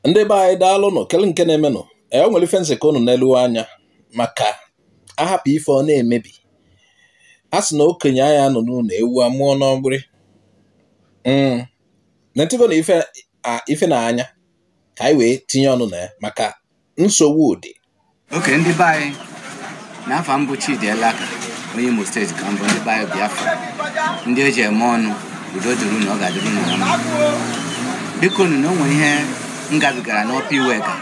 ndị be anyị daalụ nụ kele nke na-emenụ e nwere ife m sị ka unu nelu anya maka a hapụ ife ọ na-emebi a sị na okenye anaghị anọ n'ụlọ ewu amụọ n'ọgbụrị hmm. na ntịgo na ife na anya ka anyị wee tinye ọnụ na ya maka nsogbu dị okay ndị be anyị na afa m bụ Chidi Elaka onye Imo steeti ka m bụ ndị be anyị Biafra ndị e ji eme ọnụ udo dịrị unu ọ ga-adịrị unu na mma bikonu na o nwere ihe m gabigara n'Upper Iweka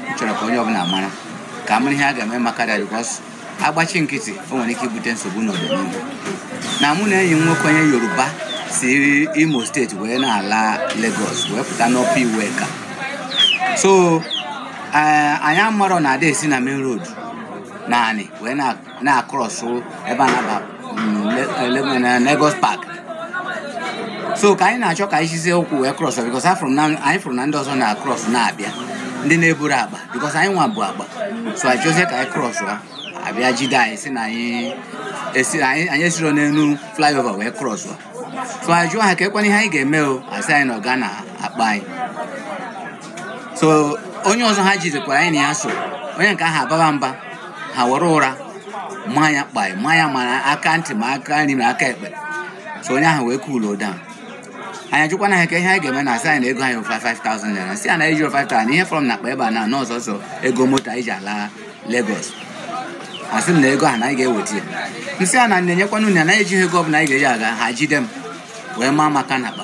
m chọrọ ka onye ọbụla mara ka a mara ihe a ga-eme maka ya because a gbachi nkịtị o nwere ike ibute nsogbu n'ọdịnihu na mụ na enyi m nwoke onye yoruba si imo steeti wee na-ala Lagos wee pụta n'Upper Iweka so eh, anyị amarọ na ada esi na main road n'anị wee na-across ebe a na-aba na Lagos Park so ka anyị na-achọ ka anyị sizie ụkwụ wee cross because afụrụ m na anyị fụrụ na ndị ọzọ na-across na-abịa ndị na-eburu akpa because anyị nwa bu akpa so anyị chọzie ka anyị cross ha abịa jide anyị sị na anyị esi anyị anyị esiro n'elu flyover wee cross ha so anyị jụọ ha kee kwanụ ihe anyị ga-eme o a sị anyị na ọ ga-ana akpa anyị so onye ọzọ ha jidekwara anyị na ya so onye nke ahụ ababa mba ha were ụra maa ya kpai maa ya mara aka ntị ma aka nri ma aka ekpe so onye ahụ wee cool down anyị ajụkwana ha kee ihe anyị ga-eme ha asị anyị na ego anyị bụ 5000 naira sị ya na ejiro 5000 na ihe fọrọ m n'akpa ebe a na ọ sọọsọ ego moto anyị ji ala Lagos ha sị m na ego ahụ na anyị ga-eweta ya m sị ha na m nyekwana unu ya na ejighị ego ọbụla anyị ga-eji aga ha jide m wee maa m aka n'akpa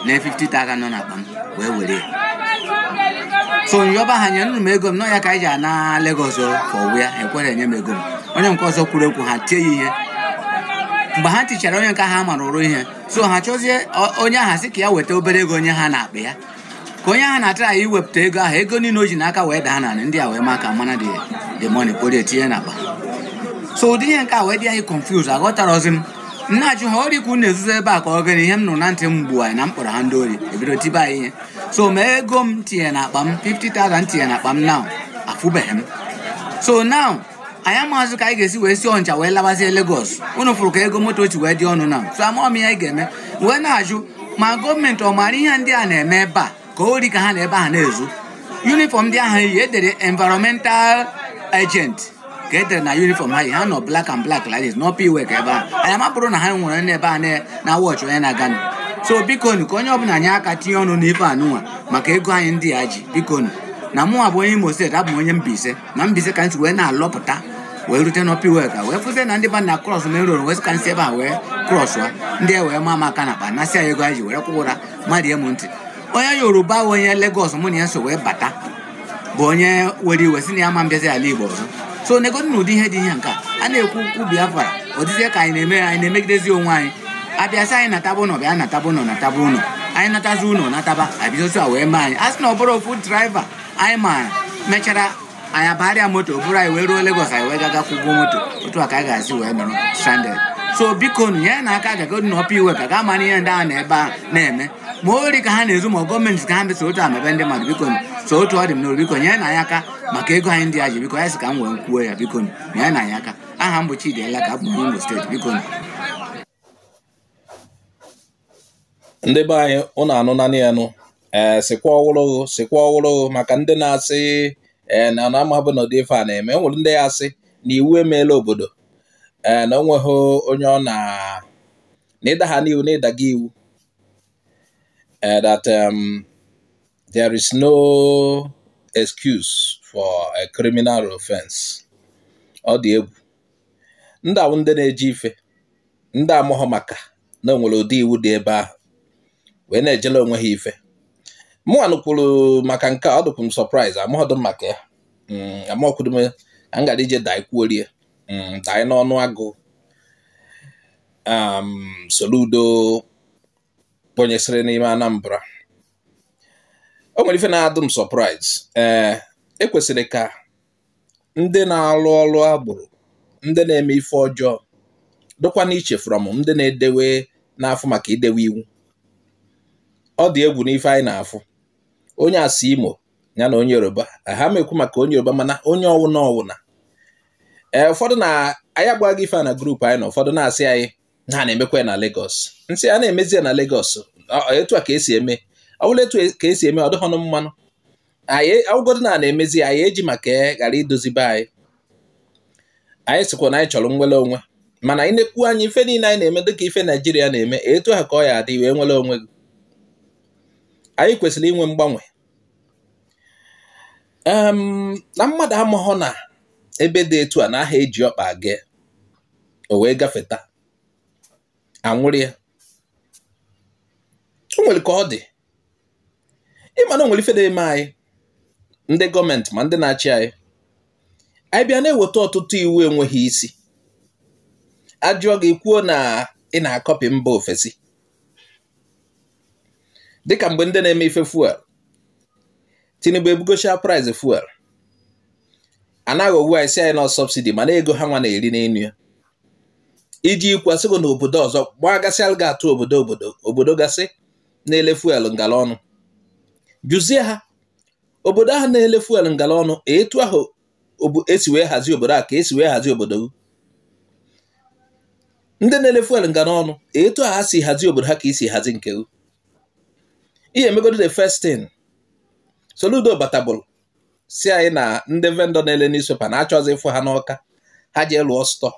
na 50,000 nọ n'akpa m wee were ya so m yọba ha nyenụ m ego m na ọ ya ka anyị ji ana Lagos for where ekwero enye m ego m onye nke ọzọ kwuru okwu ha tie ya ihe mgbe ha tichara onye nke ha mara ụra ihe so ha chọzie onye ahụ sị ka ya weta obere ego nye ha n'akpa ya ka onye ahụ na-atry iwepụta ego ahụ ego niile o ji n'aka wee daa n'anị ndị a wee maa aka na the money kporo ya tinye n'akpa so ụdị ihe nke a wee dị anyị confuse aghọtarozi m m na-ajụ ha ori ka unu na-ezuzi ebe a ka ọ gịnị ihe m nụrụ na ntị m gbuaa na m kpọrọ ha ndị ori e bido tibe anyị ihe so ma ego m tinye na akpa m 50,000 tinye na akpa m now afụbeghị m so now anyị amaghịzị ka anyị ga-esi wee si Ọnịcha wee labazie Lagos unu fụrụ ka ego moto si wee dị ọnụ now so amaghị m ihe anyị ga-eme wee na-ajụ ma gọọmenti ọ maara ihe ndị a na-eme ebe a ka ọ ori ka ha nọ ebe ahụ na-ezu uniform ndị ahụ yi e dere environmental agent ka e dere na uniform ha yi ha na ọ black and black like this n'Upper Iweka ebe ahụ anyị amaburo na ha nwere ndị ebe a na- na-awatch onye na-aganụ so bikonu ka onye ọbụla nye aka tinye ọnụ n'ife anụnwa maka ego anyị ndị a ji bikonu na mụnwa bụ onye imo steeti abụ m onye mbaise na mbaise ka m si wee na-alọpụta wee rute n'Upper Iweka wee fụzie na ndị ba na-across main road wee sị ka m si ebe a wee cross kwa ndị a wee maa m aka n'akpa nasịa ego anyị ji werekwa ụra mmadụ ya m ntị onye Yoruba onye Lagos mụ na ya so wee bata bụ onye were iwe sị na ya ama abịazi ala igbo ọzọ so negodi nụ ụdị ihe dị ihe nke a a na-ekwu okwu biafra ọ dịzie ka anyị na-emegidezi onwe anyị a bịa sị anyị nataba ụlọ bịa nataba ụlọ nataba ụlọ anyị natazi ụlọ nataba abịazi otu a wee mee anyị a sị na ọ bụrọ ofu driver anyị maara mechara anyị abagharịa moto buru anyị wee ruo Lagos anyị wee gaga kwụgwọ moto otu a ka anyị ga-esi wee nọrọ stranded so biko nye nụ aka gagodi na Upper Iweka ga amara ihe ndị ahụ nọ ebe a na-eme ma ori ka ha na-ezu ma gọọmenti ka ha mesa otu a mebe ndị mmadụ biko nu so otu ọ dị m n'obi biko nyere nụ anyị aka maka ego anyị ndị a ji biko ya sị ka m wee kwuo ya biko nu nyere nụ anyị aka aha m bụ Chidi Elaka abụ m Imo steeti biko nu ndị be anyị ụnụ anụna nị ya nụ ee eh, sikwa ọhụrụ sikwa ọhụrụ maka ndị na-asị ee eh, na na amabụ na ụdị ife a na-eme enwere ndị ya asị na iwu emeela obodo ee eh, na onweghị onye ọ na na ịda ha n'iwu na ịdaga iwu ee that um, There is no excuse for a criminal offense. Ọ dị egwu. Ndị ahụ ndị na-eji ife, ndị amụghọ maka na onwere ụdị iwu dị ebe ahụ wee na-ejela onwe ha ife. Mụnwa nụkwuru maka nke a ọ dịkwu m surprise amụghọdụ m maka ya. Mm, amakwuru m ka m gara ije daa ikwuorie mm, daa n'ọnụ agụ um, Soludo kpọnyesịrị n'ime Anambra o nwere ife na-adụ m surprise ee eh, ekwesịrị ka ndị na-arụ ọrụ agboro ndị na-eme ife ọjọọ dịkwa n'iche from ndị na-edewe na-afụ maka idewe iwu ọ dị egwu n'ife anyị na-afụ onye a si Imo ya na onye yoruba ha ma ekwu maka onye yoruba mana onye ọwụna ọwụna ee eh, ụfọdụ na anyị agbaghị ife a na group anyị na ụfọdụ na-asị anyị na ha na-emekwa ya na Lagos m sị a na-emezi ya na Lagos etu a ka esi eme ọ bụrụ etu a ka esi eme ọ dịghọnụ mma nụ anyị ọ wụgodu na a na-emezi anyị eji maka ya ghara idozi be anyị anyị sịkwa na anyị chọrọ nwere onwe mana anyị na-ekwu anyị ife niile anyị na-eme dịka ife Naijiria na-eme etu ahụ ka ọ ya adị wee nwere onwe gị anyị kwesịrị inwe mgbanwe na mmadụ amaghọ na ebe dị etu a na aha eji ọkpa aga o wee gafeta a nwụrụ ya o nwere ka ọ dị ịma na o nwere ife dị eme anyị ndị gọọmenti ma ndị na-achị anyị anyị bịa na-eweta ọtụtụ iwu enweghị isi a jụọ gị i kwuo na ị na-akọpị mba ofesi dịka mgbe ndị na-eme ife fuel Tinubu ebugosịa price fuel a na-agwa wụ sị na ọ subsidi mana ego ha nwa na-eri n'enu ya iji kwasịgo na obodo ọzọ gbagasịa ga atụ obodo obodo obodo gasị na-ele fuel ngala ọnụ jụzie ha obodo ahụ na-ele fuel ngala ọnụ etu ahụ esi wee hazie obodo a ka esi wee hazie obodo gị ndị na-ele fuel ngala ọnụ etu a ha si hazie obodo ha ka i si hazie nke gị ị ya-emegodi the first thing Soludo batabulu sị na ndị vendor na-ele newspaper na-achọzi ịfụ ha n'Ọka ha jee lụọ stọ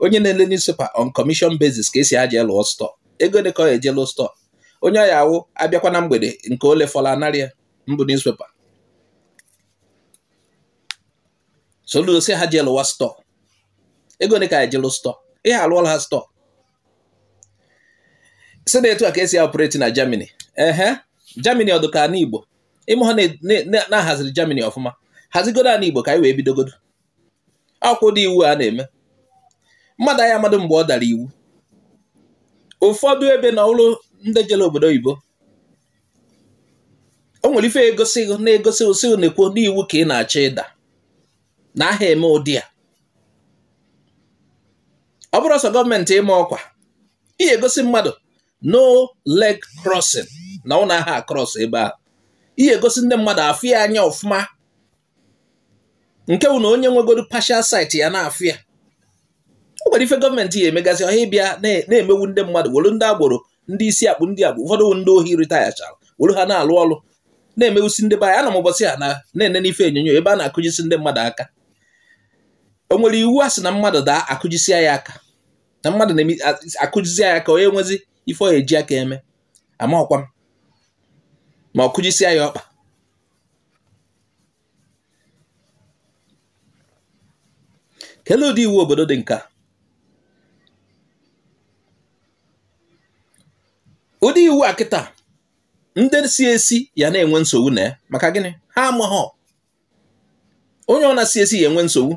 onye na-ele newspaper on commission basis ka a sị ha jee lụọ stọ ego gịnị ka ọ ya-eji lụọ stọ onye ọ ya-awụ a bịakwa na mgbede nke o lefọla a narị ya mbụ newspaper Soludo sị ha jee lụwa stọọ ego ole ka ọ ya-eji lụọ stọọ ị ya-alụọla ha stọọ sị na etu a ka esi operate na Germany ehe Germany ọ dụ ka ana Igbo ị maha na a haziri Germany ọfụma hazigodo ana Igbo ka anyị wee bidogodo ọ bụkwa ụdị iwu a na-eme mmadụ anya mmadụ mgbe ọ dara iwu ụfọdụ ebe na ọ bụrụ ndị jere obodo oyibo o nwere ife egosi na-egosi sị nekwa na iwu ka ị na-achọ ịda na aha eme ụdị a ọ bụrụ ọsọ gọọmenti ịma ọkwa ị ya-egosi mmadụ no leg crossing na unu aha cross ebe ahụ ị ya-egosi ndị mmadụ afụ ya anya ọfụma nke bụ na onye nwegoro partial sight ya na-afụ ya o nwere ife gọọmenti ya emegasị ọha ịbịa na-emewu ndị mmadụ were ndị agboro ndị isi akpụ ndị agbụ ụfọdụ bụ ndị ohi ritayachara were ha na-alụ ọrụ na-emewusi ndị be anyị anọ m ụbọchị a na na-ene n'ife onyonyo ebe a na-akụjisi ndị mmadụ aka o nwere iwu a sị na mmadụ daa akụjisia ya aka na mmadụ na-akụjisi ya aka o nwezi ife ọ eji aka eme amarọkwa m ma ọ kụjisia ya ọkpa kelee ụdị iwu obodo dị nka ụdị iwu a kịta ndị si esi ya na-enwe nsogbu na ya maka gịnị ha amaghọ onye ọbụna si esi ya-enwe nsogbu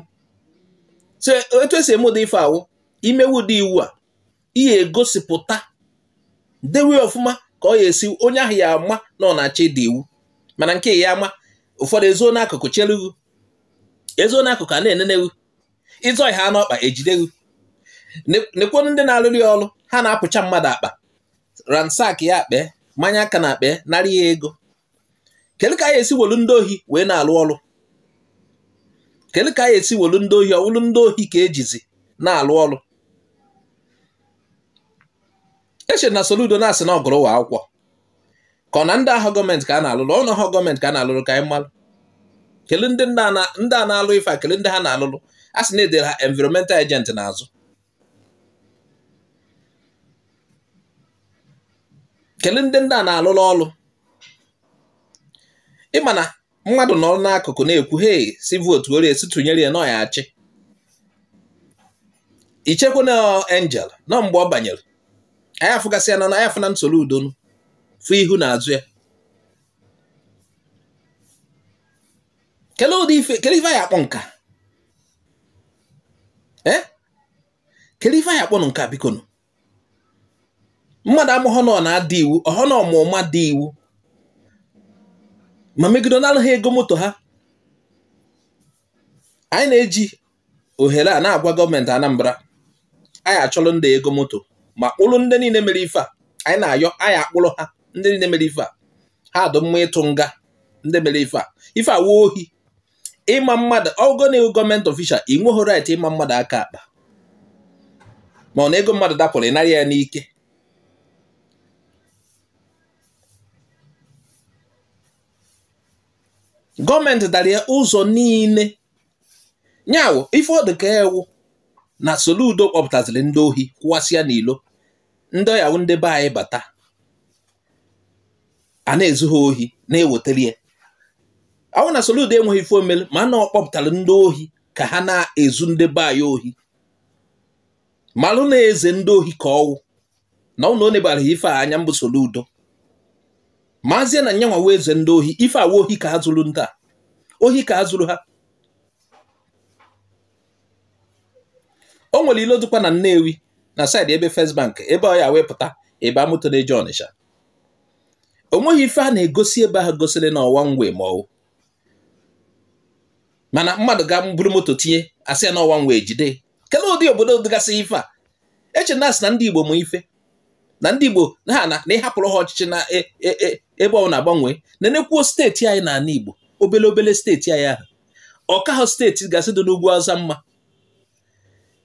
so etu esi eme ụdị ife a wụ i mewe ụdị iwu a ị ya-egosipụta dewe ọfụma ka ọ ya esi onye ahụ ya ama na ọ na-achọ ịda iwu mana nke ị ya-ama ụfọdụ ezoo n'akụkụ chelu wụ ezoo n'akụkụ a na-enene wụ ị zọhie ọkpa ejide wụ nekwonu ndị na-alụrụ ya ọrụ ha na-apụcha mmadụ akpa ransack ya akpa manye aka n'akpa narị ya ego kedu ka anyị esi welu ndị ohi wee na-alụ ọrụ kedu ka anyị esi welu ndị ohi ọ wụlụ ndị ohi ka e jizi na-alụ ọrụ eche na Soludo na-asị na ọ gụrụ ụwa akwụkwọ ka ọ na ndị ahụ gọọmenti ka a na-alụrụ ọ wụ gọọmenti ka a na-alụrụ ka anyị malụ kele ndị a na-alụ ife a kele ndị ha na-alụrụ a sị na e dere ha environmental agent n'azụ kelee ndị ndị a na-alụrụ ọrụ ị ma na mmadụ nọ n'akụkụ na-ekwu hei sị votuoro ya sị tụnyere ya na ọ ya-achị i chekwa na angel nọ mgbe ọ banyere anyị afụgasịa na anyị afụna Soludo nụ fụ ihu na azụ ya kelee ụdị ife kelee ife a ya-akpọ nka eh? kele ife a ya-akpọnụ nke a biko nụ mmadụ amaghọ na ọ na-ada iwu ọhọ na ọ ma ụma da iwu ma megide nalụ ha ego moto ha anyị na-eji ohere a na-agwa gọọmenti Anambra a ya-achọrọ ndị ego moto ma kpụrụ ndị niile mere ife a anyị na-ayọ a ya-akpụrụ ha ndị niile mere ife a ha dụ mma ịtụ nga ndị mere ife a ife a wụ ohi ịma mmadụ ọ wụgo na ị wụ gọọmenti ofishal i nweghị right ịma mmadụ aka akpa ma ọ na ego mmadụ dapụrụ ị nara ya n'ike gọọmenti dara ya ụzọ niile nya wụ ife ọ dị ka ọ wụ na Soludo kpọpụtaziri ndị ohi kwụwasịa n'ilo ndị ọ ya-awụ ndị be anyị bata a na-ezu ha ohi na-ewetara ya ọ wụ na Soludo enweghị ife o melu ma na ọ kpọpụtara ndị ohi ka ha na-ezu ndị be anyị ohi malụ na eze ndị ohi ka ọ wụ na ọ na o nebaghị ife a anya mbụ Soludo maazie na nyanwa wụ eze ndị ohi ife a wụ ohi ka ha zuru ndị a ohi ka ha zuru ha o nwere ilo dịkwa na Nnewi na saịdị ebe First Bank ebe ọ ya-ewepụta ebe moto na-eje Ọnịcha o nweghị ife a na-egosi ebe ahụ gosiri na ọ one way ma ọ wụ mana mmadụ ga buru moto tinye a sị ya na ọ one way jide kelee ụdị obodo dịgasị ife a eche na a sị na ndị Igbo ma ife na ndị Igbo na ha na ị hapụrụ ha ọchịchị na e, e, e, ebe ọ na-agbanwe na-enekwuo steeti anyị n'ala Igbo obele obele steeti anyị ahụ ọ ka ha steeti gasị dị n'ugwu Awụsa mma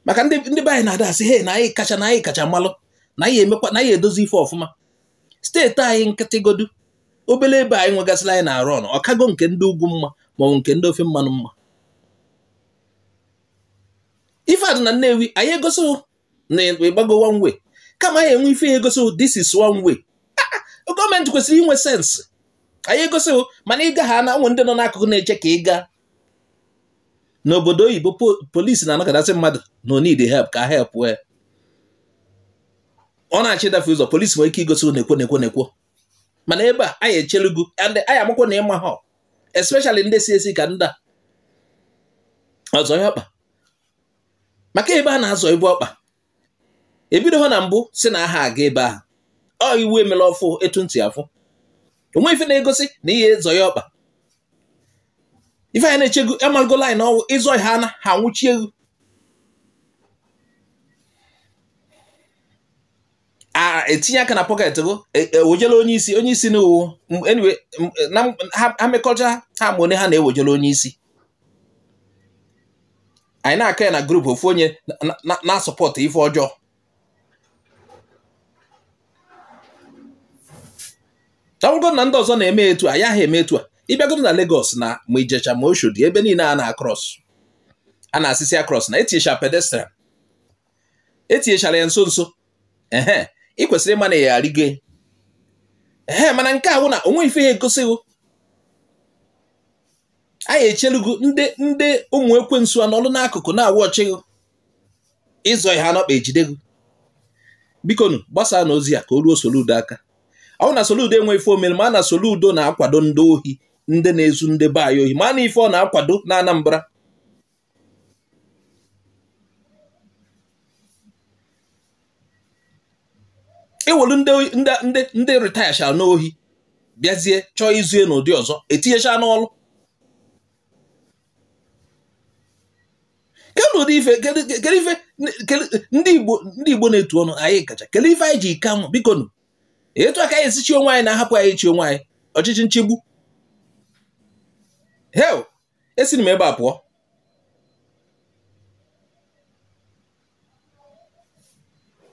maka ndị ndị be anyị na-ada asị he na anyị kacha na anyị kacha malụ na anyị emekwa na anyị edozi ife ọfụma steeti anyị nkịtịgodu obele ebe anyị nwegasịrị anyị na-arụ ọnụ ọ kago nke ndị ugwu mma maọbụ nke ndị ofe mmanụ mma ife a dị na Nnewi anyị egosi na ịgbago one way kama anyị enwe ife ya egosi this is one way ah, ah, gọọmenti kwesịrị inwe sign ya egosi mana ị ga-ahụ na e nwe ndị nọ n'akụkụ na-eche ka ị gaa n'obodo oyibo polisi na-anọkatasị mmadụ na o needi help ka a help ya ọ na-achọ ịdafe ụzọ polisi nwere ike igosi nekwo nekwo nekwo mana ebe a a ya echelu gụ and a ya amakwa na ị maho especially ndị si esi ka ndị a ọzọ ya ọkpa maka ebe a na-azọbu ọkpa ebidoho na mbụ sị na aha aga ebe ahụ ọ iwu e melụ ọfụụ etu ntị afụ o nwe ife na-egosi na ihe zọ ya ọkpa ife anyị na-eche gụ amalugo laịn ọ wụ ịzọ ha na ha nwụchie gụ etinye aka na pọket gụ ewejela e, onye isi onye isi na uwu ha mekọcha ha ma onye ha na-ewejela onye isi anyị na-akọ ya na grupu ofu onye na-asupportụ ife ọjọọ ọ bụgodu na ndị ọzọ na-eme etu a ya ha eme etu a ị bịagodu na Lagos na ma Ijesha ma Oshodi ebe niile a na-akrọs a na-asịsị akrọs na etinyecha pedestrian etinyechara ya nso nso ehe ị kwesịrị ịma na ị ya arịgo ehe mana nke a bụ na o nwe ife ya egosi gị a ya echelu gụ ndị ndị ụmụ ekwensu anọlụ n'akụkụ na-awụ ọchịghị ịzọ ha n'ọkpa ejide gụ bikonu gbasaanụ ozi a ka o ruo Soludo aka ọ bụ na Soludo enwe ife o mere ma na Soludo na-akwado ndị ohi ndị na-ezu ndị be anyị ohi ma na ife ọ na-akwado na Anambra ewelu ndị ritayacha n'ohi bịazie chọọ izu n'ụdị ọzọ etinyecha n'ọlụ kedụ ụdị ife kedụ ife ndị Igbo ndị Igbo na-etu ọnụ anyị kacha kedụ ife anyị ji ike anwụ biko nụ etu aka anyị esi chị onwe anyị na a hapụ anyị chị onwe anyị ọchịchị nchegbu he esiri m ebe a pụọ